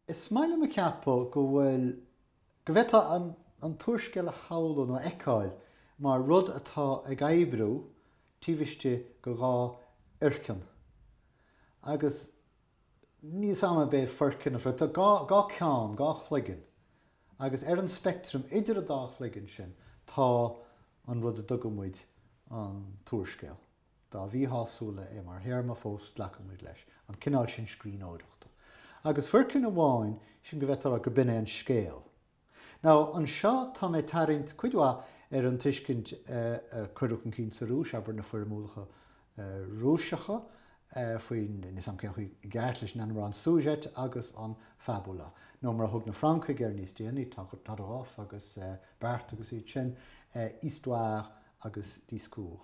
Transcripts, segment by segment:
Is maith liom a cheapadh go bhfuil, go bhféadfá an t-úrscéal a shamhlú nó a fheiceáil mar rud atá ag oibriú taobh istigh de dhá fhoirceann. Agus níl 's a'm ab é foirceann a phrioc, tá dhá cheann, dhá chloigeann, agus ar an speictream idir an dá chloigeann sin tá an rud a dtugaimid an t-úrscéal. dá mhíshásúla é mar théarma, fós glacaimid leis an cineál sin scríbhneoireachta. Agus foirceann amháin, sin go bhféadfá a rá gur b'in é an scéal. Now, anseo tá mé ag tarraingt cuid mhaith ar an tuiscint a cuireadh chun cinn sa Rúis, abair, na foirmiúlacha Rúiseacha faoin, níl 'fhios a'm cén chaoi i gceart, leis an ainm a rá, an sujet agus an fabula, nó mar a thug na Francaigh air níos déanaí, Todorov agus Barthes agus iad sin, histoire agus discours.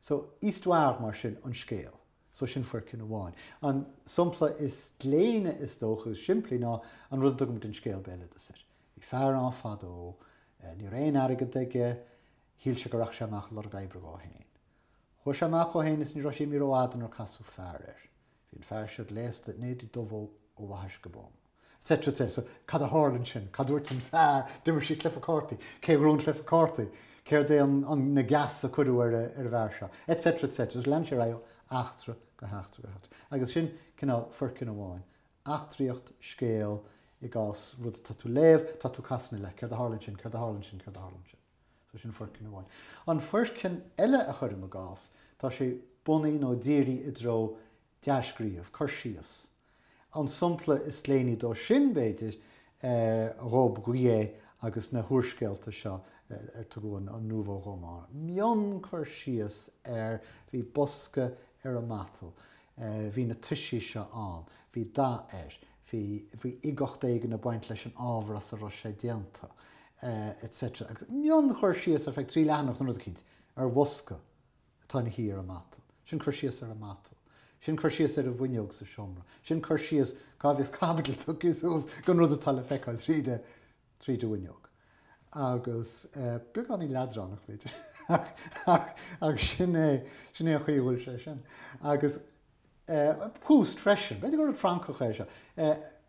So, histoire mar sin an scéal. So sin foirceann amháin. An sompla is gléine is dócha, is simplí ná an rud a dtugaimid an scéal béaloideas air. Bhí fear ann fadó, ní raibh aon airgead aige, shíl sé go rachadh sé amach ag lorg oibre dhó fhéin. Chuaigh sé amach dhó fhéin is ní raibh sé imithe rófhada nuair casadh fear air. Bhí an fear seo gléasta in éide dubh ó bhaithis go bonn. etc. etc. So, cad a tharla ansin? Cad a dúirt an fear? D'imir siad cluife cártaí. Cé a ghnóthaigh an cluife cártaí? Céard é an na geasa a cuireadh ar an bhfear seo? Etc. etc. Agus lean sé ar aghaidh ó eachtra go heachtra go heachtra. Agus sin cineál foirceann amháin. Eachtraíocht, scéal, i gcás rud atá tú léamh, tá tú casadh na leath. Céard a tharla ansin? Céard a tharla ansin? Céard a tharla ansin? So sin foirceann amháin. An foirceann eile cuirim i gcás, tá sé bunaithe nó dírithe i dtreo dea-scríobh, cur síos. An sompla is gléiní dó sin, b'fhéidir, Robbe-Grillet agus na húrscéalta seo ar tugadh an nouveau roman. Mion cur síos ar bhí bosca ar an matal, bhí na toisí seo ann, bhí dath air, Bhí uigeacht éigin ag baint leis an ábhar as a raibh sé déanta, etc. Agus mion-chur síos ar feadh trí leathanach san rud eicínt ar bhosca atá ina shuí ar an matal, sin cur síos ar an matal, sin cur síos ar an bhfuinneog sa seomra, sin cur síos cá bhfios caibidil tugtha suas don rud atá le feiceáil tríd an. tríd an bhfuinneog agus beagáinín leadránach, b'fhéidir, ach sin é an chaoi a bhfuil sé sin. Agus Proust freisin, b'fhéidir gur rud Francach é seo,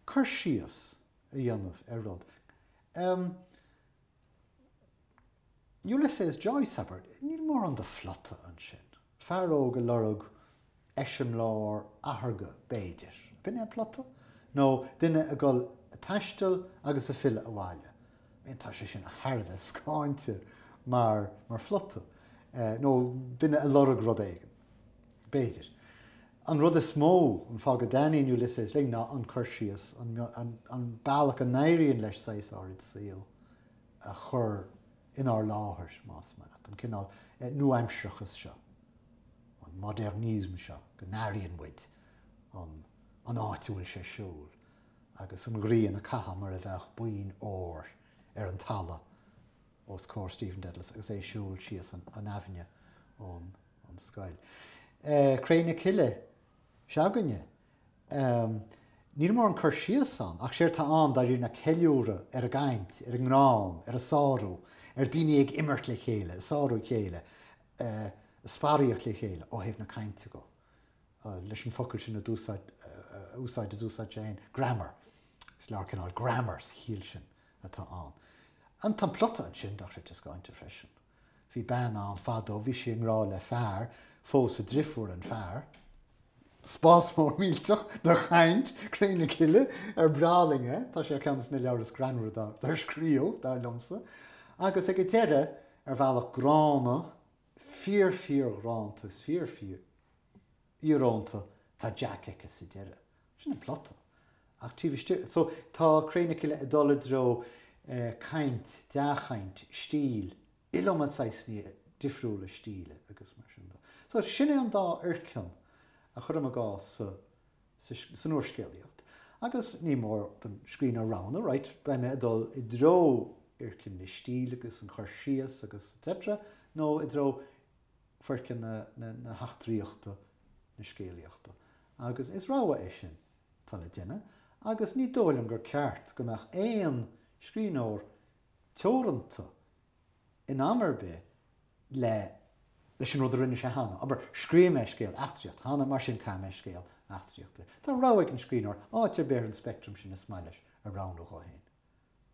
cur síos a dhéanamh ar rud. Ulysses Joyce, abair, níl mórán de phlota ansin. Fear óg ag lorg eiseamláir atharga, b'fhéidir. B'in é an plota? Nó duine ag dul ag taisteal agus ag filleadh abhaile? Bhuel, tá sé sin thar a bheith scáinte mar phlota. Nó duine ag lorg rud éigin. B'fhéidir. An rud is mó, an fáth go dtaitníonn Ulysses linn ná an cur síos, an bealach a n-éiríonn leis saghas ár saol a chur inár láthair, más maith leat, an cineál nuaaimsearachas seo, an modernism seo go n-airíonn muid an áit a bhfuil sé ag siúl agus an ghrian ag caitheamh mar a bheadh boinn óir ar an talamh os comhair Stephen Dedalus agus é ag siúl síos an aibhinne ón scoil. Cré na Cille s'againne! Ehm. níl mórán cur síos ann, ach séard atá ann, dáiríre, ná ceiliúradh ar an gcaint, ar an ngreann, ar an sárú, ar dhaoine ag imirt le chéile, ag sárú a chéile, eh, ag sparaíocht le chéile, ó thaobh na cainte go. eh, leis an focal sin a d'úsáid, eh, a úsáid a d'úsáid sé féin, grammar. Is leabhar cineál grammar sa chiall sin atá ann. An, tá an plota ansin, dochreidte scáinte freisin. Bhí bean ann fadó, bhí sí i ngrádh le fear, phós a drifúr an fear. Spás mór millteach de chaint, Cré na Cille, ar breá linn é, tá sé ar cheann de na leabhair is greannmhaire dár scríobhadh, dar liomsa, agus ag an deireadh, ar bhealach gránna, fíor-fhíorónta, is fíor-fhíor íorónta, tá Jack aici sa deireadh. Sin an plota. Ach taobh istigh, so, tá Cré na Cille ag dul i dtreo caint, dea-chaint, stíl, iliomad saghsanna difriúla stíle agus mar sin de. So, sin é an dá fhoirceann a chuirim i gcás sa, sa, san úrscéalaíocht. Agus ní mór don scríbhneoir roghnú, right, beidh mé ag dul i dtreo fhoirceann na stíle agus an chur síos agus etc, nó i dtreo foirceann na, na, na heachtraíochta, na scéalaíochta. agus is rogha é sin atá le déanamh, agus ní dóigh liom gur ceart go mbeadh aon scríbhneoir teoranta in am ar bith leis an rud a rinne sé cheana, abair, scríobh mé scéal eachtraíochta cheana, mar sin caithfidh mé scéal eachtraíochta. Tá rogha ag an scríbhneoir áit ar bith ar an speictream sin is maith leis a roghnú dhó féin.